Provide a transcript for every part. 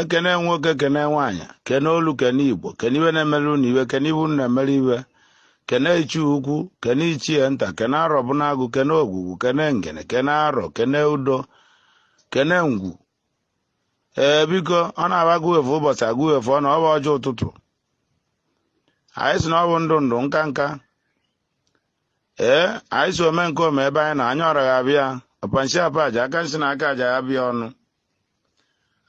ekene nwoke kene nwaanyị kene olu kene igbo kene iwe na-emere unu iwe kene ibu na-emere iwe kene ichie ukwu kene ichie nta kene arọ bụ n'agụ kene ogwugwu kene ngene kene arọ kene udo kene ngwu ee biko ọ na-aba agụwefu ụbọchị agụwefu ọ na ọ bụ ọjị ụtụtụ anyị sị na ọ bụ ndụ ndụ nka nka ee anyị sị ome nke ome ebe anyị na anya ọra ga-abịa ọpa nsi ọpa aja aka nsi na aka aja ya baa ọnụ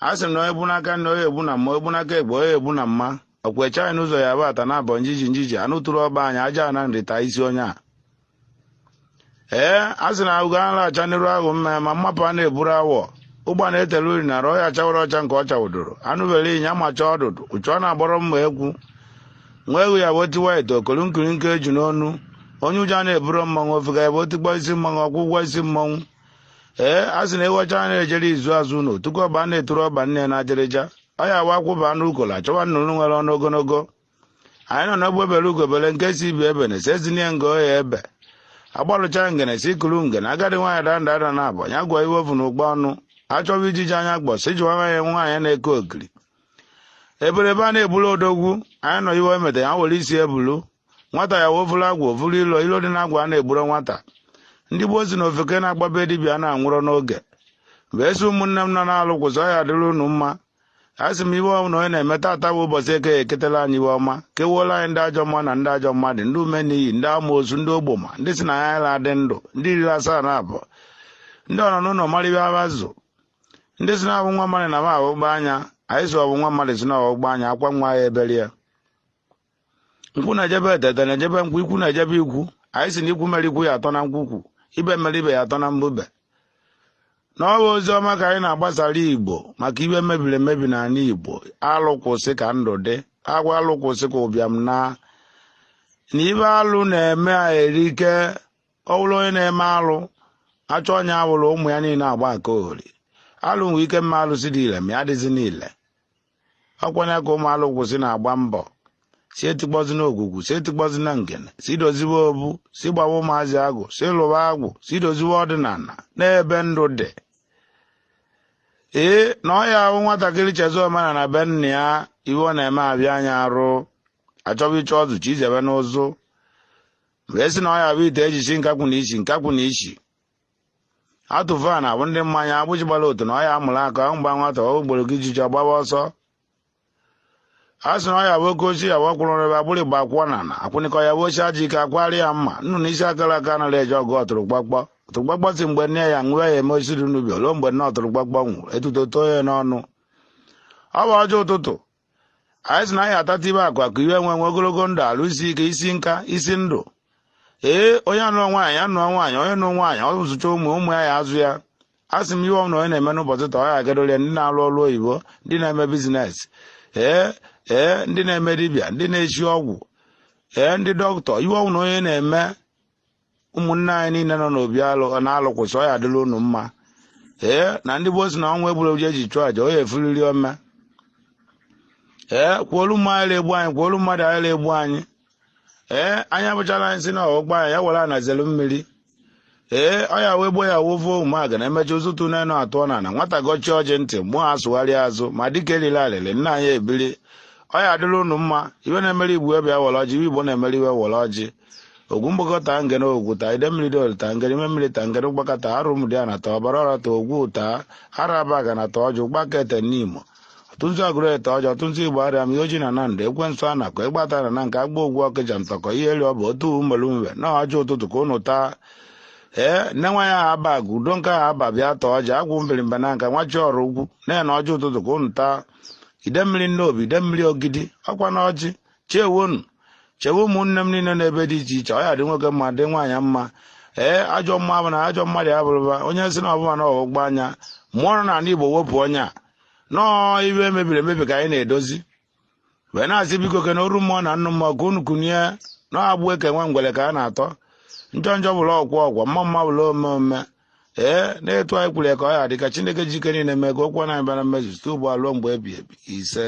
a sị na onye bụ n'aka nne onye egbu na mma egbu n'aka egbe onye egbu na mma ọkwa eche anyị n'ụzọ ya bụ ata na abọ njiji njiji anụ tụrụ ọba anyị aja na nri taa isi onye a ee a sị na ahụgo anụ acha n'iru ahụ mma ma mmapụ a na-eburu awọ ụgba na-etelu uri na ọhịa chawara ọcha nke ọ chawụdoro anụ bere ịnya macha ọdụdụ uchu ọ na-agbọrọ mma ekwu nwa egwu ya bụ o tiwa ite okolu nkiri nke eju n'ọnụ onye ụjọ na-eburu mmanwụ ofega ya bụ o tikpọ isi mmanwụ ọ kwụọ ụgwọ isi mmanwụ ee a sị na ewu ọcha na-ejere izu azụ ụlọ tupu ọba na-eturu ọba nne na ajịrịja ọ ya wa akwụba anụ ukolo achọwa nnụnụ nwere ọnụ ogologo anyị nọ n'egbe bere ugo bere nke sị ibe ebena sị e zinye nga ọ ya ebe agbalụcha ngene sị kuru ngene agadi nwaanyị daa nda ada naabọ ya gụa iwe o vu na ukpa ọnụ achọwa ijiji anya gboo sị jụwa nwaanyị nwaanyị na-eke ogiri ebere ebe a na-ebulu odogwu anyị nọ iwe emete ya were isi ebulu nwata ya wee vụrụ agwụ vụrụ ilo ilo dị n'agwụ a na-egburo nwata ndị gboo sị na ofeke na-agbabe dibịa na-anwụrọ n'oge mgbe esi ụmụnne m nọ na alụ kwụsị ọ ya adịrị unu mma a sị m iwe ọwụna onye na-eme tata bụ ụbọchị eke eketela anyị iwe ọma kewuola anyị ndị ajọ mma na ndị ajọ mmadụ ndị ume n'iyi ndị amoosu ndị ogboma ndị sị na ya na-adị ndụ ndị riri asaa na abụọ ndị ọnọ n'ụlọ mara ibe abazụ ndị sị na ọ bụ nwa mmadụ na m aghọgbu anya anyị sị ọ bụ nwa mmadụ sị na ọgbụgba anya akwa nwa ya ebere ya nkwụ na-eje be ete ete na-eje be nkwụ ikwu na-eje be ikwu anyị sị na ikwu mere ikwu ya atọ na nkwukwu ibe mere ibe ya atọ na mbube na ọ bụ ozi ọma ka anyị na-agbasara igbo maka iwe mebiri emebi n'ala igbo alụ kwụsị ka ndụ dị agwa alụ kwụsị ka ụbịam naa na iwe alụ na-eme a erike ọ bụrụ onye na-eme alụ achọ onye awụrụ ụmụ ya niile agba nkiri alụ nwee ike ma alụsị dị ile ma ya dịzi niile ọ kwa ya ka ụmụ alụ kwụsị na-agba mbọ sị etikpọzina ogwugwu sị etikpọzina ngene sị doziwe obu sị gbawa ụmụazị agwụ sị lụwa agwụ sị doziwe ọdịnala n'ebe ndụ dị ee na ọ ya ahụ nwatakịrị chezọ omenala be nna ya iwe ọ na-eme abịa anya arụ achọba ịchọ ọzụ chi izebe n'ụzụ wee sị na ọ ya bụ ite eji si nkakwụ na isi nkakwụ na isi atụfu a na-abụ ndị mmanya agbụji gbara otu na ọ ya amụrụ aka aṅụ gbaa nwata ọ gboro gị ijiji ọ gbaba ọsọ a sị na ọ ya bụ oke ochie ya wakwụrụ ebe agbụrụ igba akwụọ na na akwụnịkọ ya bụ ochie aji ike akwari ya mma nnu na isi akarọ aka anaghị eje ọgụ ọtụrụkpọkpọ ọtụrụkpọkpọ sị mgbe nne ya nwụọ ya eme osisi dị n'ubi ruo mgbe nne ọtụrụkpọkpọ nwụrụ etuto too ya n'ọnụ ọ bụ ọjị ụtụtụ anyị sị na anyị ya-atata ịba akụ akụ inwe nwe nwe ogologo ndụ arụ isi ike isi nka isi ndụ ee onye anụọ nwaanyị anụọ nwaanyị onye nụ nwaanyị ọ zụcha ụmụ ụmụ ya ya azụ ya a sị m ihe ọbụla onye na-eme n'ụbọchị taa ọ ya agadole ndị na-alụ ọlụ oyibo ndị na-eme business ee ee ndị na-eme dibịa ndị na-esi ọgwụ ee ndị doctor ihe ọbụla onye na-eme ụmụnne anyị niile nọ n'obi alụ na alụkwụsị ọ ya adịlị unu mma ee na ndị gboo si na ọnwa egburu eji eji chụọ aja onye efuriri ome ee kwuolu mmụọ anyị egbu anyị kwuolu mmadụ anyị egbu anyị ee anyị abụchala anyị si na ọgbọ anyị ya were anazelu mmiri ee ọ ya wee gboo ya wovo ụmụaga na emechi ụzụtụ n'enu atụ na na nwata gọchi ọjị ndị mmụọ asụgharị azụ ma dịka elile alịlị nna anyị ebili ọ ya adịlị unu mma ihe na-emere igbo ebe ya were ọjị ihe igbo na-emere iwe were ọjị ogwu mgbakọ taa ngene ogwu taa idemmiri dị olu taa ngene ime mmiri taa ngene ụgbaka taa arọ ụmụdiana taa ọbara ọra taa ogwu taa arọ abagana taa ọjụ ụgbaka ete nimo ọtụtụnzu agụleri taa ọjị ọtụtụnzu igbariam iyi ọjị na nando ekwensu anaku ịgbata na na nke agba ogwu ọkịja ntọkọ ihe elu ọ bụ otu mmelu mwe na ọjị ụtụtụ ka ụnụ taa ee nne nwa ya aba gụ udo nke ahụ aba bịa taa ọjị agwụ mbirimba na nka nwachi ọrụ ugwu na-ene ọjị ụtụtụ ka ụnụ taa idemmiri nnobi idemmiri ogidi ọkwa na ọjị chewonu chewe ụmụnne m niile n'ebe dị iche iche ọ ya dị nwoke mma dị nwaanyị mma ee ajọ mmụọ na ajọ mmadụ ya bụrụba onye sị na ọbụma na ọgbụgba anya mụọ nọ n'ala igbo wepụ anya na ọ ihe mebiri emebi ka anyị na-edozi wee na-asị biko ke na oru mmụọ na nnụ mmụọ ka unu kunie na agbụ e ke nwa ngwere ka a na-atọ njọ njọ bụrụ ọkwụ ọkwọ mma mma bụrụ ome ome ee na etu anyị kwuru ya ka ọ ya dị ka chineke ji ike niile mee ka okwu ọnụ anyị bịa na mmezu site ugbu a ruo mgbe ebi ebi ise